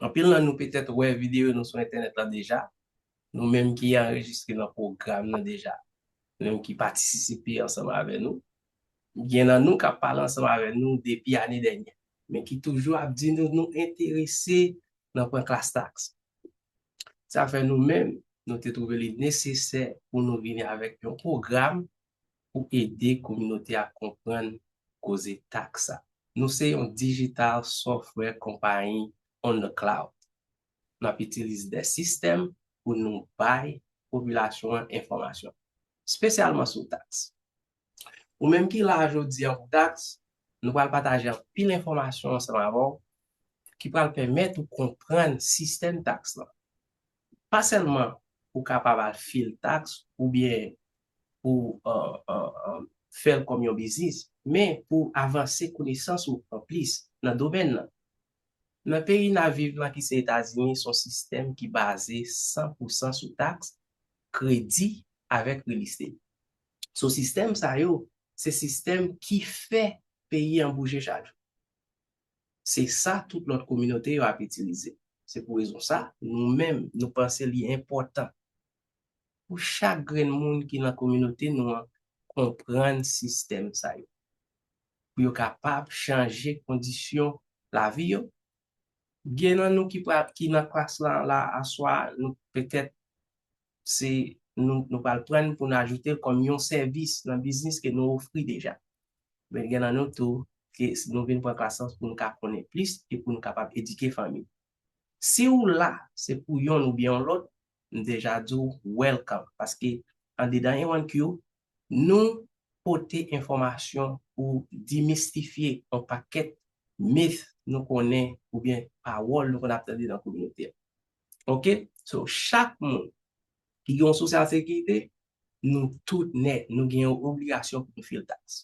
Anpil nan nou petèt wè videyo nou sou entènèt la deja, nou menm ki anrejistre nan pwogram nan deja, nou menm ki patisisipe ansanm avè nou. Gen nan nou k ap pale ansanm avè nou depi ane dènyè, men ki toujou ap di nou nou enterese nan pran klas taks. Sa fè nou menm, nou te twouve li nesesè pou nou vini avèk yon pwogram pou ede kominote a konprann koze taks sa. Nou se yon digital software company on the cloud. N ap itilize de sistèm pou nou bay popilasyon an enfòmasyon, spesyalman sou taks. Ou menm ki la a jodi an pou taks, nou pral pataje anpil enfòmasyon ansanm avè w ki pral pèmèt ou konprann sistèm taks lan. Pa sèlman pou w kapab al file taks oubyen pou fè l kòm yon biznis, men pou avanse konesans ou an plis nan domèn lan. Nan peyi n ap viv lan ki se Etazini, son sistèm ki baze san pou san sou taks, kredi avèk real estate. So sistèm sa yo se sistèm ki fè peyi an bouje chak jou. Se sa tout lòt kominote yo ap itilize. Se pou rezon sa, nou menm nou panse li enpòtan. pou chak grenn moun ki nan kominote nou an konprann sistèm sa yo, pou yo kapab chanje kondisyon lavi yo. Gen nan nou ki pral, ki nan klas lan la aswa a, nou petèt se nou, nou pral prann pou n ajoute l kòm yon sèvis nan biznis ke nou ofri deja. Men gen nan nou tou ke nou vin pran klas lan pou nou ka konnen plis e pou nou kapab edike fanmi. Si ou la, se pou yonn oubyen yon lòt, m deja di w welcome paske andedan EwanQ nou pote enfòmasyon pou demystifye on pakèt myth nou konnen oubyen pawòl nou konn ap tande nan kominote a ok so chak moun ki gen on social securite nou tout nèt nou gen on obligasyon pou nou fil tax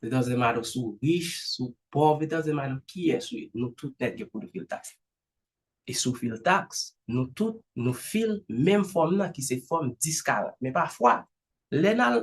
it doesn't matter si w rich si w pòv it doesn't matter kiyès ou ye nou tout nèt gen pou nou fil tax E sou fil tax, nou tout, nou fil menm fòm nan ki se fòm 10 40. Men pafwa, lè n al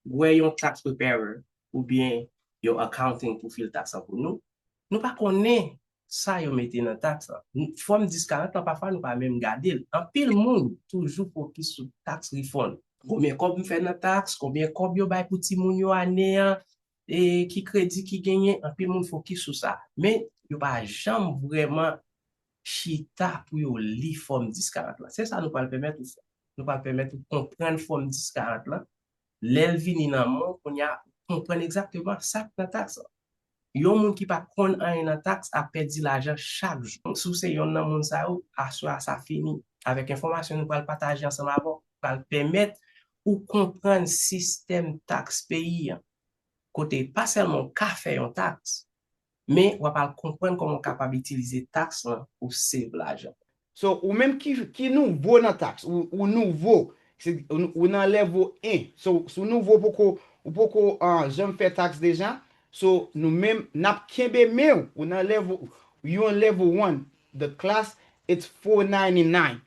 wè yon tax preparer oubyen yon accounting pou fil tax lan pou nou, nou pa konnen sa yo mete nan tax lan. Fòm 10 40 lan pafwa nou pa menm gade l. Anpil moun toujou fokis sou tax refund. Konbyen kòb m fè nan tax, konbyen kòb yo bay pou timoun yo ane an, ki kredi ki genyen, anpil moun fokis sou sa. Men, yo pa janm vrèman chita pou yo li Fòm 1040 lan. Se sa nou pral pèmèt ou fè. Nou pral pèmèt ou konprann Fòm 1040 lan. Lè l vini nan men w, kounye a, konprann egzakteman sa k nan taks lan. Yon moun ki pa konn anyen nan taks ap pèdi lajan chak jou. Si w se yonn nan moun sa yo, aswè a sa fini. Avèk enfòmasyon nou pral pataje ansanm avè w, pral pèmèt ou konprann sistèm taks peyi an, kote pa sèlman w ka fè yon taks, men w ap al konprann kòman w kapab itilize taks lan pou w save lajan. So, ou menm ki ki nouvo nan taks, ou ou nouvo, se ou nan level 1, so si w nouvo poko ou poko janm fè taks deja, so nou menm n ap kenbe men w, ou nan level, you on level one, the class it's 499,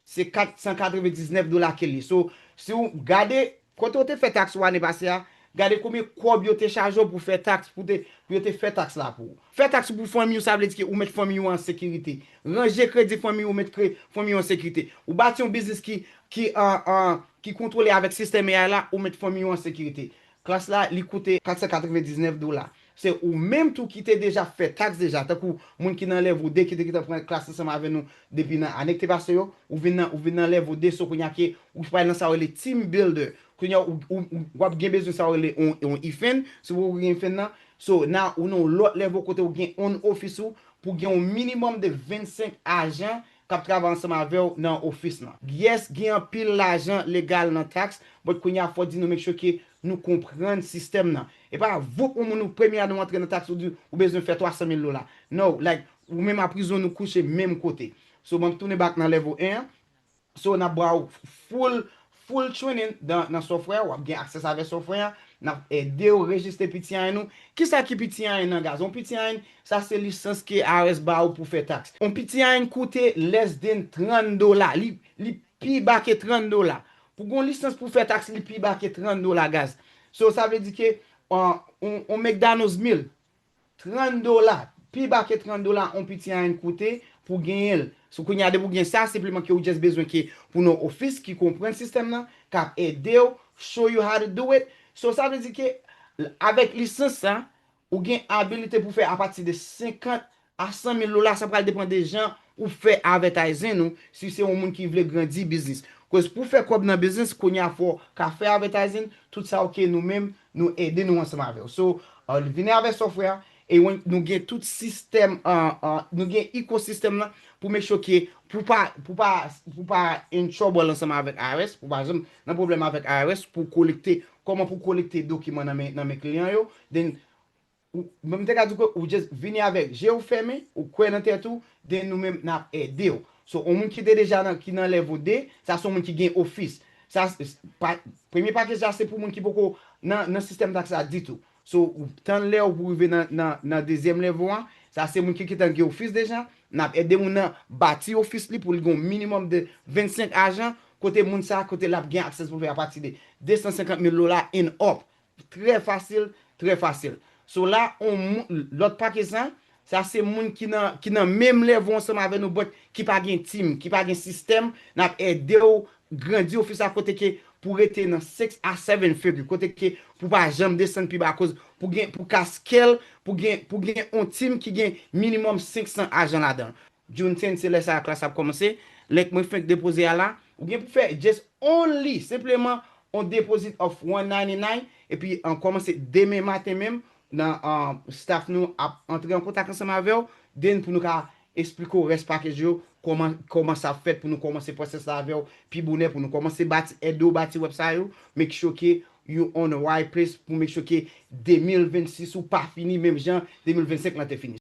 se 499 dola kel ye so si ou gade kote ou te fè tax ou ane pase a gade konbyen kòb yo te chaje w pou fè tax pou te pou yo te fè tax la pou ou fè tax pou fanmiy ou sa vle di ke ou met fanmiy ou an sekirite ranje kredi fanmiy ou met kre fanmiy ou an sekirite ou bati yon biznis ki ki an an ki kontwole avèk sistèm AI la ou met fanmiy ou an sekirite Klas la li koute 499 dola. Se ou menm tou ki te deja fè taks deja, tankou moun ki nan level 2 ki te gentan pran klas ansanm avè nou depi nan ane ki te pase yo, ou vin nan ou vin nan level 2 so kounya ke ou pral nan sa yo rele team builder. Kounya ou wap gen bezwen sa yo rele yon ifen, si ou poko gen ifen nan, so na ou nan yon lòt level kote ou gen on office ou pou gen yon minimum de 25 ajan kap travay ansanm avew nan office lan. Yes gin anpil lajan legal nan tax but kounya fò di nou make sure ke nou konprann sistèm nan. Epa voup yon moun ou premye a nou antre nan tax ou di ou bezwen fè 300 mil dola no like ou menm a prizon nou kouche menm kote so map tounen back nan level 1 an so nap baw full Full training nan software a, wap gen access avè software a, nap edew rejiste PTIN ou. Kisa ki PTIN nan gaz? Yon PTIN, sa se lisans ke IRS ba ou pou fè tax. Yon PTIN koute less than 30 dola, li pi ba ke 30 dola. Pou gen yon lisans pou fè tax li pi ba ke 30 dola gaz. So sa vle di ke yon McDonald's meal 30 dola, pi ba ke 30 dola on piti a yn koute pou genyen l. So kounye a depi ou gen sa, senpleman ke ou just bezwen ke pou nou office ki konprann sistèm nan, kap ede w, show you how to do it. So sa vle di ke avèk lisans sa, ou gen abilite pou fè a pati de 50 a 100 mil dola, sa pral depan de jan Ou fè avètayzing ou si se yon moun ki vle grandi biznis. Koz pou fè kòb nan biznis kounya fò ka fè avètayzing tout sa ok nou menm nou ede nou ansanm avèw so vini avè software a e nou gen tout sistèm nou gen ecosystem lan pou make sure ke pou pa pou pa pou pa in trouble ansanm avèk IRS pou pa janm nan pwoblèm avèk IRS pou kolekte kòman pou kolekte dokiman nan men nan men kliyan yo then Ou menm m te ka di w ke ou just vini avèk je w fèmen, ou kwè nan tèt ou, den nou menm nap ede w. So on moun ki te deja nan ki nan level 2, sa son moun ki gen ofis. Sa pa premye package la se pou moun ki poko nan nan sistèm tax la ditou. So ou tann lè ou pou rive nan nan nan dezyèm level an, sa se moun ki kitan gen ofis deja, nap ede moun nan bati ofis li pou li gen yon minimum de 25 ajan kote moun sa kote lap gen access pou l fè a pati de 250 mil dola and up Trè fasil, trè fasil. So la on moun, lòt pake sa, sa se moun ki nan, ki nan menm level ansanm avè nou but ki pa gen team, ki pa gen system, nap edew grandi ofis la kote ke pou rete nan 6 a 7 figure, kote ke pou pa janm desann pi ba akoz pou gen, pou ka scale, pou gen, pou gen on team ki gen minimum 500 ajan ladanl. Junethin se lè sa a klas ap kòmanse, link mwen fenk depoze a la, ou gen pou fè just only, senpleman, on deposit of 199 epi an kòmanse demen maten menm nan staff nou ap antre an kontak ansanm avèw then pou nou ka esplike w rès package yo kòman kòman sa ap fèt pou nou kòmanse process la avèw pi bonè pou nou kòmanse bati ede w bati wèb sa yo make sure ke you on a right place pou make sure ke 2026 ou pa fini menm jan 2025 lan te fini.